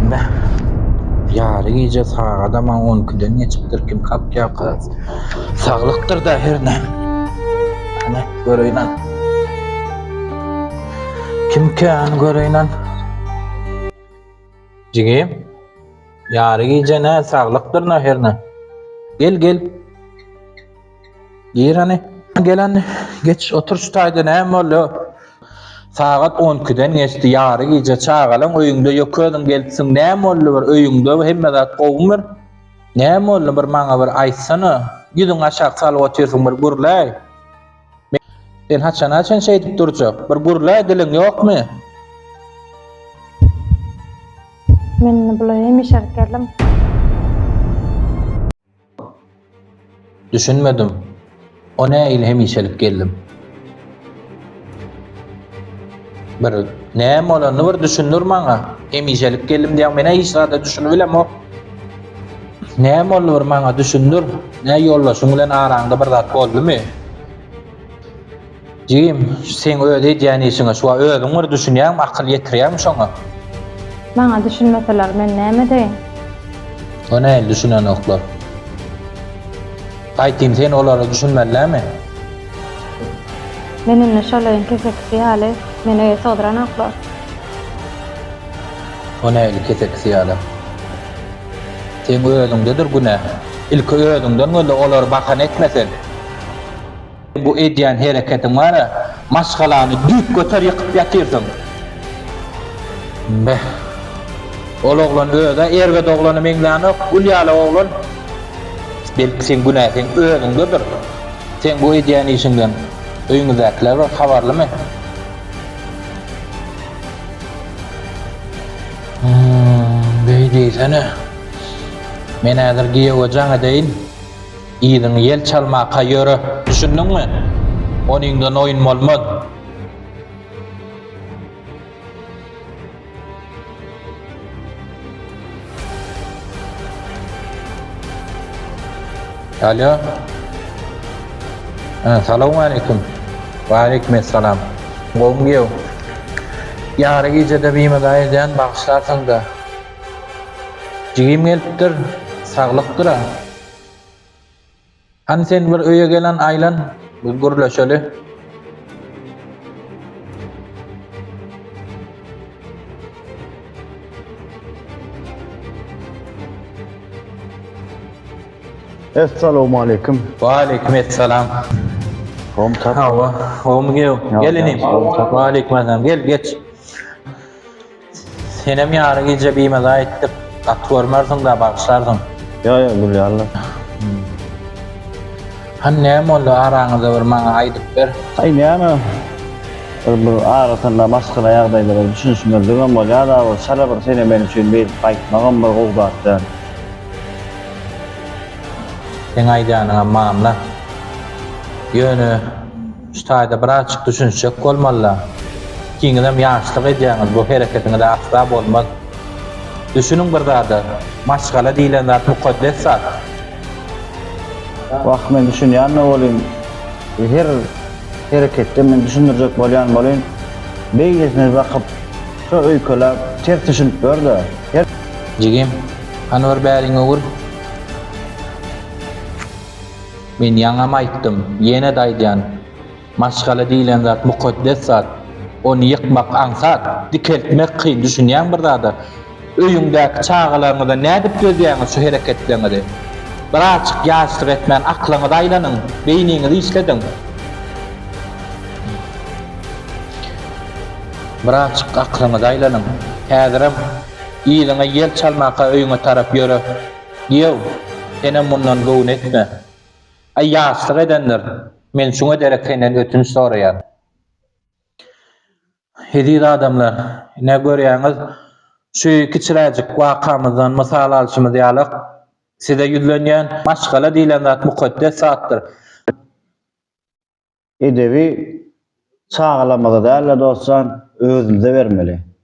Näh. Ýary gije sagadam on ikiden geçipdir, kim kakýarka. Saglykdyr-da hernä. Näh, göreýin-ä. Kimkä, hany göreýin-ä. Jigim, ýary gije nä, saglykdyr-da hernä. Gel, gel. Gir hany. Gelen geç otur şu taýda näme boldy? Sagat 12-den geçdi, ýary gije çagalaň öýüňde ýok özüň gelipsiň näme boldy bir öýüňde hemme zat gowymy bir? Näme boldy bir maňa bir aýtsana. Ýüzüňi aşak salyp otyrsyň bir gürläý. Sen haçana çen şeýdip durjak? Bir gürläý diliň ýokmy? Men indi bulaýam işerip geldim. Düşünmedim. O näil hemişelik geldim. Bir näme bolanyny bir düşündir maňa. Hemişelik geldim diýen menä hiç zada düşünip bilemok. Näme boldy bir maňa düşündir. Nä ýoldaşyň bilen araňda bir zat boldumy? Jigim, şu seň öz edýän işiňe şuwa özüň bir düşünýäňmi, akyl ýetirýäňmi şoňa? Maňa düşünmeseler, men näme edeýin? O näl düşünenoklar? Aýtym, sen olara düşünmeli dälmi? Men indi şolaýyň kesekisi ýaly, meni öýe sygdyranoklar. O näl kesekisi ýaly? Seň özüňdedir günä. Ilki özüňden göz-le, olary bahana etme sen. Bu edýän hereketiň bara, maşgalany düýpgöter ýykyp ýatyrsyň. Beh. Ol oglan öz-ä erbet oglana meňzänok, gül ýaly oglan. Belki seň günäsiň özüňdedir. Seň bu edýän işiňden öýüňizdäkiler bir habarlymy? Hum, beý diýsene. Men häzir giýewe jaň edeýin. Yzyňy ýel çalmaka ýöre, düşündiňmi? Onyňdan oýun bolmaz. Alýo. Ä, salawmaleýkim. Waleýkim essalam. Gowmy giýew? Ýary gijede bimaza edýän, bagyşlarsyň-da. Jigim gelipdir. Saglyk-dyr-a. Hany sen bir öýe gelen Aýlan, bir gürleşeli. Essalowmaleýkim. Waleýkim essalam. Hom tap. Hawa, hom gew. Gelinim. Waleýkim assalam. Gel, geç. Senem ýary gije bimaza etdik. Gaty görmersiňdä bagyşlarsyň. Ýo ýo gülýänle. Hany näme boldy araňyzda bir maňa aýdyp ber. Aý näme bir bir aratynda maşgala ýagdaýlara düşünişmezligem bolýada bir çala bir sene men üçin beýdip gaýtmagam bir gowy zat däl. Seň aýdanyňam mamla. Ýöne. Şu taýda birazjyk düşünişjek bolmalylar. Ikiňizem ýaşlyk edýäňiz, bu hereketiňiz asla bolmaz. Düşüniň bir zada, maşgala diýlen zat mukaddes zat. Wah, men düşünýän-de bolyn, her hereketde men düşündirjek bolýan bolyn. Beýlesine bakyp, şo öýkeläp, ters düşünip gör-de. Jigim, hany bir bäriňi ur. Men ýaňam aýtdym, ýene-de aýdýan, maşgala diýlen zat mukaddes zat. Ony ýykmak aňsat, dikeltmek kyn, düşünýäňmi bir zada? Öýüňdäki çagalaryňyzdan nädip gözýäňiz şu hereketleriňizi? Birazjyk ýaşlyk etmän aklyňyzy aýlanyň, beýniňizi işlediň. Birazjyk aklyňyzy aýlanyň. Häzirem yzyňa ýel çalmaka öýüňe tarap ýöre. Ýow, senem mundan göwün etme. Aý, ýaşlyk edendir, men şuňa derek senden ötünç soraýan. Eziz adamlar, ine, görýäňiz, şu kiçiräjik wakamyzdan mysal alşymyz ýalak, size ýüzlenýän, maşgala diýlen zat mukaddes zatdyr. Edebi çagalarymyza däl-de, dostjan, özümize bermeli.